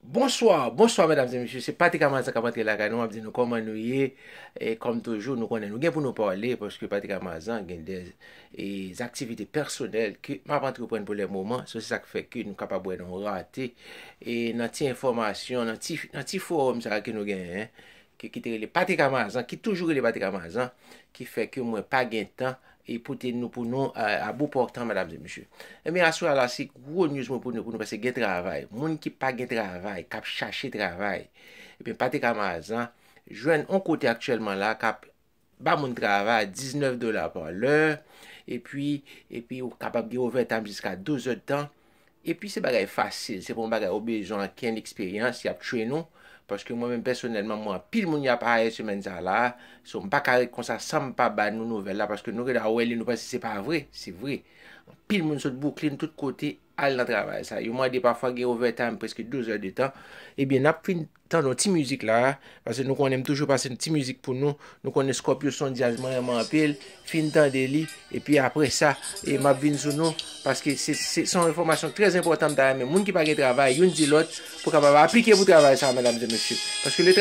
Bonsoir Bonsoir mesdames et messieurs se Patrick Amasa kap antre lakay nou map di nou koman nou ye e kom toujou nou konnen nou gen pou nou pale paske Patrick Amazan gen de aktivite pèsonèl ke map antreprann pou le moman so se sak fè ke nou kapab wè nou rate e nan ti enfòmasyon nan ti nan ti forum sa ke nou genyen ki te rele Patrick Amazan ki toujou rele Patrick Amazan ki fè ke mwen pa gen tan E pote nou pou nou a bou pòtan medam e mesye. Ebyen aswè a la se gwo news mwen pote pou nou paske gen travay. Moun ki pa gen travay, kap chache travay. Ebyen pate ka Marzan jwenn on kote aktyèlman la kap ba moun travay 19 dola pa lè. Epi, epi ou kapab gen ovètam jiska 12 èd tan. Epi se bagay fasil, se pa yon bagay ou bezwen ankenn eksperyans, y ap train ou, paske mwen menm pèsonèlman m wè anpil moun y ap hire semèn sa a la, so m pa ka ret konsa san m pa ba nou nouvèl la paske nou gen dwa wè li nou panse se pa vre, se vre. Anpil moun sot Brooklyn, tout kote, al nan travay sa. Yo mande pafwa gen overtime preske 12 heures de temps, ebyen n ap fin Tande yon ti mizik la a, pase nou konnen m toujou pase yon ti mizik pou nou, nou konnen Scorpio son djaz mwen renmen anpil, fin tande li, epi apre sa e map vin sou nou, paske se son enfòmasyon trè enpòtan m ta renmen moun ki pa gen travay youn di lòt pou kapab aplike pou travay sa a medam e mesye, paske le.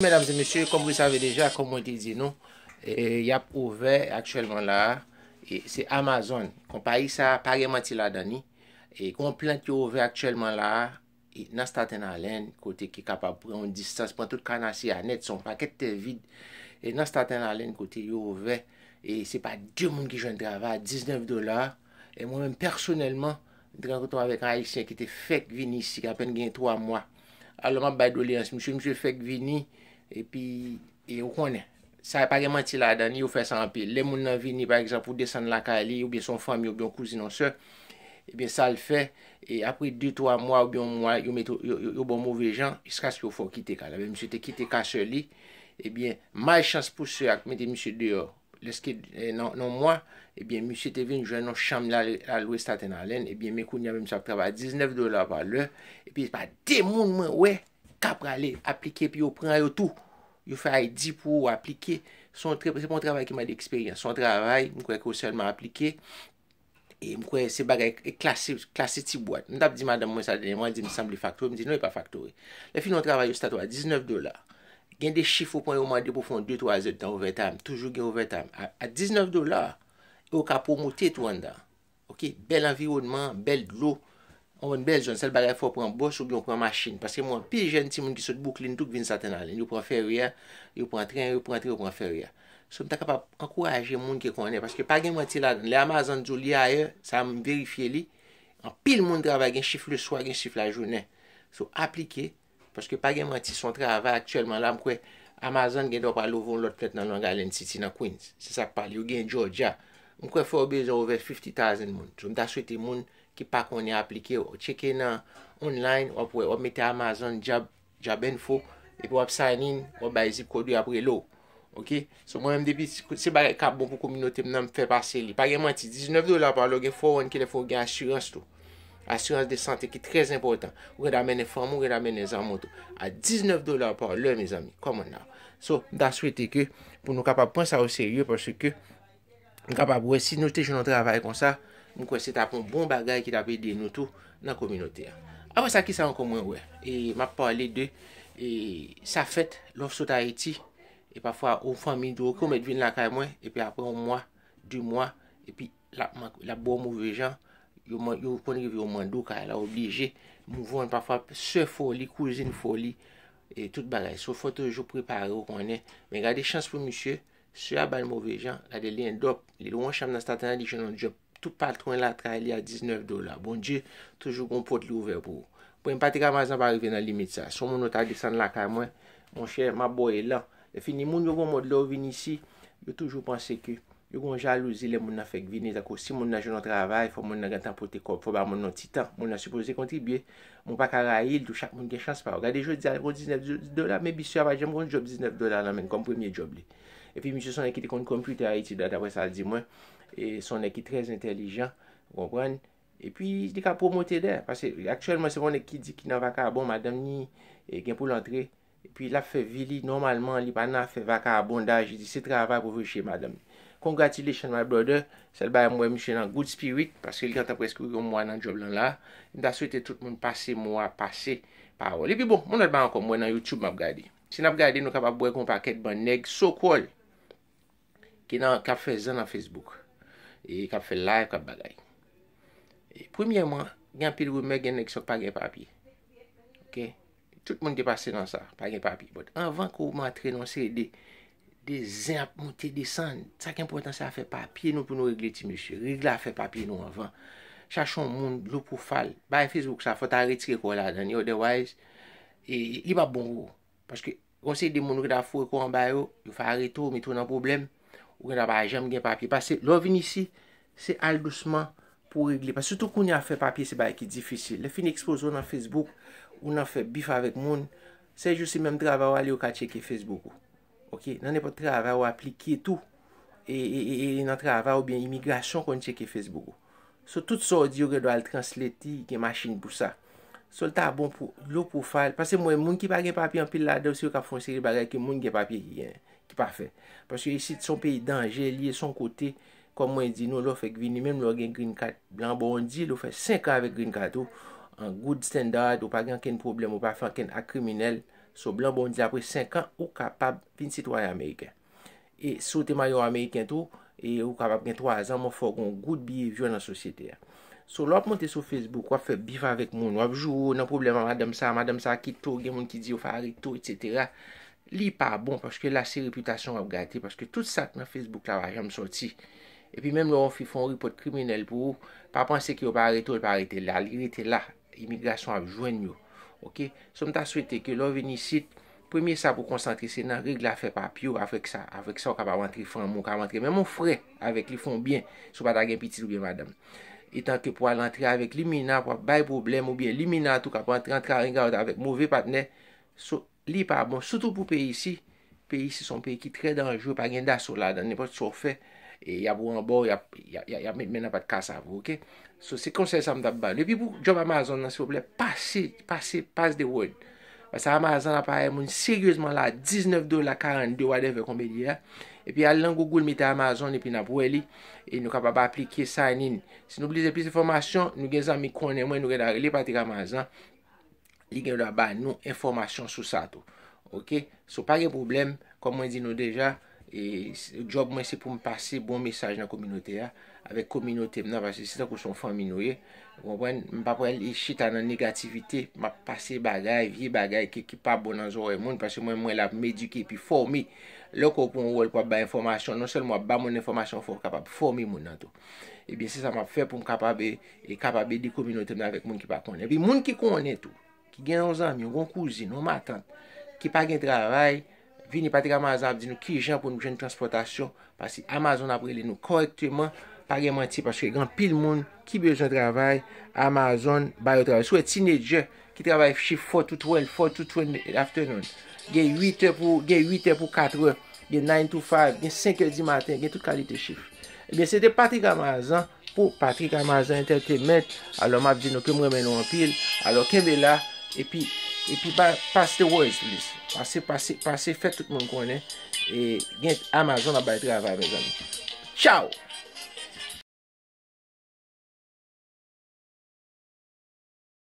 Medam e mesye, kom wi save deja, kom mwen te di nou, yap ouvè aktyèlman la a, se Amazon, konpayi sa a pa gen manti ladan ni, e gon plant yo ouvè aktyèlman la a, nan Staten Alen, kote ki kapab pran yon distans, pran tout kanasye a nèt, se yon pakèt tè vid, e nan Staten Alen kote yo ouvè, e se pa 2 moun ki jwenn travay a 19 dola, e mwen menm pèsonèlman, mwen te rankontre avèk yon ayisyen ki te fèk vini isi, ki apèn gen 3 mwa. Alò map bay doleyans misye, misye fèk vini epi e ou konnen sa pa gen manti ladan li, yo fè sa anpil. Lè moun nan vini pa egzanp ou desann lakay li oubyen se yon fanmi oubyen yon kouzin yon sè, ebyen sa l fè e apre 2 3 mwa oubyen yon mwa yo mete w yo ba w move jan jiskaske yo fè w kite kay la. Misye te kite kay sè li, ebyen malchans pou sè a k mete misye deyò Lèske nan yon mwa, ebyen misye te vin jwenn yon chanm li al lwe Staten Island, ebyen men kounye a menm misye ap travay 19 dola pa lè, epi se pa de moun mwen wè k ap prale aplike epi yo pran yo tou, yo fè ID pou ou aplike, se pa yon travay ki mande eksperyans, se yon travay mwen kwè ke ou sèlman aplike. E m kwè se bagay e klase, klase ti bwat. M t ap di madanm mwen sa dènyèman, li di m sanble faktori. M di non e pa faktori. Lè fini yon travay yo stat ou a 19 dola. Gen de chif ou pran yo mande pou w fè yon de twa zèdtan ovètayim. Toujou gen ovètayim. A 19 dola e ou ka pwomote tou anndan. Ok, bèl anviwònman, bèl dlo. Ou konn bèl zòn, sèl bagay fò w pran bòs oubyen w pran machin. Paske m wè anpil jèn timoun ki sot Bouklin tou k vin Staten Island. Yo pran fèri a, yo pran tren, yo pran tren, yo pran fèri a. So m ta kapab ankouraje moun ki konnen, paske pa gen manti ladan l. Lè Amazon di w li ayè, sa m verifye li, anpil moun travay, gen chif leswa, gen chif lajounen. So aplike. Paske pa gen manti son travay aktyèlman la m kwè Amazon gen dwa pral ouvè yon lòt plent nan Long Island City nan Queens se sak pale yo gen Georgia m kwè fè yo bezwen ouvè 50 thousand moun so m ta swete moun ki pa konnen aplike ou tcheke nan online wap wè wap mete Amazon job job info epi wap sign in wap bay zip kòd yo yap rele w. Ok So mwen menm depi se bagay kap bon pou kominote m nan m fè pase li. Pa gen manti 19 dola pa lò gen fòwòn kilè fò gen asirans tou. Asirans de sante ki trèz enpòtan. Ou gen ta mennen fanm ou, gen ta mennen zanm ou tou. A 19 dola pa lò mezanmi. Kòman nan. So m ta swete ke pou nou kapab pran sa o serye paske Nou kapab wè si nou te jwenn yon travay konsa, m kwè se t ap yon bon bagay ki t ap ede nou tou nan kominote a. Apre sa, ki sa ankò mwen wè? E m ap pale de e sa fèt lè w sot Ayiti e pafwa yon fanmi di w ok ou mèt vin lakay mwen epi apre yon mwa, de mwa epi l ap mank l ap ba w move jan, yo man yo konn rive yo mande w kay la w oblije move an pafwa sè fè w li, kouzin fè w li e tout bagay. So fò toujou prepare w konnen. Men gade chans pou misye, Sè a bal move jan, gade li endòp, li lwen chanm nan staten an li jwenn yon djòb tou patwen la tray li a 19 dola Bondye toujou gon pòt li ouvè pou ou Bon e m pa te ka Mazan pa rive nan limit sa Si yon moun ou ta desann lakay mwen monchè m ap ba w elan Lèfini moun yo gon mòd lè yo vin isi yo toujou panse ke yo gon jalouzi lè moun nan fèk vini tankou si moun nan jwenn yon travay fò moun nan gentan pote kòb fò ba moun nan yon ti tan moun nan sipoze kontribye Mwen pa ka rayi l tou, chak moun gen chans pa yo. Gade jodi a l gon 19 dola, men bisye a pa t janm gon djòb 19 dola nan men l kòm premye djòb li. Epi misye s on nèg ki te konn kòm twitè Ayiti dat aprè sa l di mwen. E s on nèg ki trè entèlijan, ou konprann. Epi li ka pwomote dè, paske aktyèlman se pa yon nèg ki di ki nan vakabon, madanm ni gen pou l antre. Epi lap fè vi li nòmalman li pa nan afè vakabondaj li di se travay pou veye madanm li congratulations my brother sèl bagay m wè misye nan good spirit paske li gentan prèske yon mwa nan job lan la m ta swete tout moun pase mo a pase pawòl epi bon yon lòt bagay ankò m wè nan youtube map gade si nap gade nou kapab wè gon pakèt bann nèg so call ki nan kap fè zen nan facebook e kap fè live kap bagay premyèman gen anpil rimè gen nèg sa yo ki pa gen papye ok. Tout moun te pase nan sa, pa gen papye. But anvan ke w antre nan yon seri de de zen ap monte desann, sa ki enpòtan se afè papye nou pou nou regle ti mesye. Regle afè papye nou anvan. Chache yon moun low profile. Bagay Facebook sa fò ta retire kò w ladan li otherwise li pap bon pou ou. Paske Yon seri de moun ou gen ta foure kò anba yo, yo fè arete w, mete w nan pwoblèm, ou gen ta pa janm gen papye. Pase lè w vin isi, se al dousman pou w regle. Pase sitou kounye a fè papye se bagay ki difisil. Lè yo fin ekspoze w nan Facebook, ou nan fè bif avèk moun, sè jou se menm travay ou ale yo ka tcheke Facebook ou. Ok, nan nenpòt travay ou aplike tou, e nan travay oubyen imigrasyon konn tcheke Facebook ou. So tout sa w di yo gen dwa al translate li, gen machin pou sa. So l ta bon pou low profile, paske m wè moun ki pa gen papye anpil ladan yo se yo k ap fè yon seri bagay ke moun ki gen papye ki gen, ki pa fè. Paske isit se yon peyi danje li ye, se yon kote, kòm mwen di nou, lè w fèk vini, menm lè w gen green card, blan ba w yon deal, ou fè 5 an avèk green card ou, an good standard, ou pa gen ankenn pwoblèm, ou pa fè ankenn ak kriminèl, so blan ba w yon deal apre 5 an, ou kapab vin sitwayen ameriken. E si w te marye ameriken tou, e ou kapab gen 3 zan, mwen fè w gen yon gout biyevyo nan sosyete a. So lè w ap monte sou Facebook, w ap fè bif avèk moun, w ap joure w nan pwoblèm a madanm sa, madanm sa kite w, gen moun ki di yo farite w, etsetera, li pa bon paske la se repitasyon w ap gate paske tout sa k nan Facebook la pa janm sòti. Epi menm lè yon fi fè yon repòt kriminèl pou ou, pa panse ke yo pa arete w, li pa rete la, li rete la. Imigrasyon ap jwenn yo ok. So mta swete ke lè w vin isit premye sa pou konsantre se nan regle afè papye w avèk sa avèk sa w kapab antre fanmi w ka antre menm yon frè avèk li fon byen si w pa ta gen pitit oubyen madanm etan ke pou al antre avèk li mina pwal bay pwoblèm oubyen li mina tou kap antre antre arengarenk avèk move patnè so. Li pa bon sitou pou peyi isi, peyi isi son peyi ki trè danjre pa gen daso ladan nenpòt sa w fè yap wanba w yap met men nan pat kasav ou ok so se konsèy sa m tap ba nou epi pou djòb amazon nan silvouplè pase pase pass the word paske amazon aparèy moun seryezman la 19 dola 42 wadèvè konbe li ye a epi al nan gougoul mete amazon epi nap wè li e nou kapab aplike sign in si nou blize plis enfòmasyon nou gen zanmi konnen mwen nou gen ta rele patrik amazan Li gen dwa ba nou enfòmasyon sou sa tou. Ok. So pa gen pwoblèm, kòm mwen di nou deja, e djòb mwen se pou m pase bon mesaj nan kominote a, avèk kominote m nan, paske se tankou se yon fanmi nou ye. Ou konprann? M pa pral chita nan negativite, m ap pase bagay, vye bagay ke ki pa bon nan zòrèy moun, paske mwen mwen la pou m edike epi fòme. Lè w kwè w pou yon wòl pou w ap bay enfòmasyon, non sèlman w ap ba moun enfòmasyon, fò w kapab fòme moun nan tou. Ebyen se sa map fè pou m kapab e kapab ede kominote m nan avèk moun ki pa konnen. Epi moun ki konnen tou, ki gen yon zanmi, yon gwo kouzin, yon matant, ki pa gen travay, vini pati ak Amazon ap di nou ki jan pou nou jwenn transpòtasyon, pasi Amazon ap rele nou kòrèkteman, pa gen manti paske gen anpil moun ki bezwen travay, Amazon ba yo travay. Sou wè tinedjè. Ki travay shift four to twelve, four to twelve in the afternoon. Gen 8 è pou, gen 8 è pou 4 è. Gen nine to five, gen 5 è di maten, gen tout kalite shift. Ebyen se te Patrick Amazan pou Patrick Amazan Entertainment. Alò m ap di nou ke m renmen nou anpil. Alò kenbe la, epi, epi ba, pass the words please. Pase, pase, pase fè tout moun konnen e gen Amazon ap bay travay mezanmi. Tchao!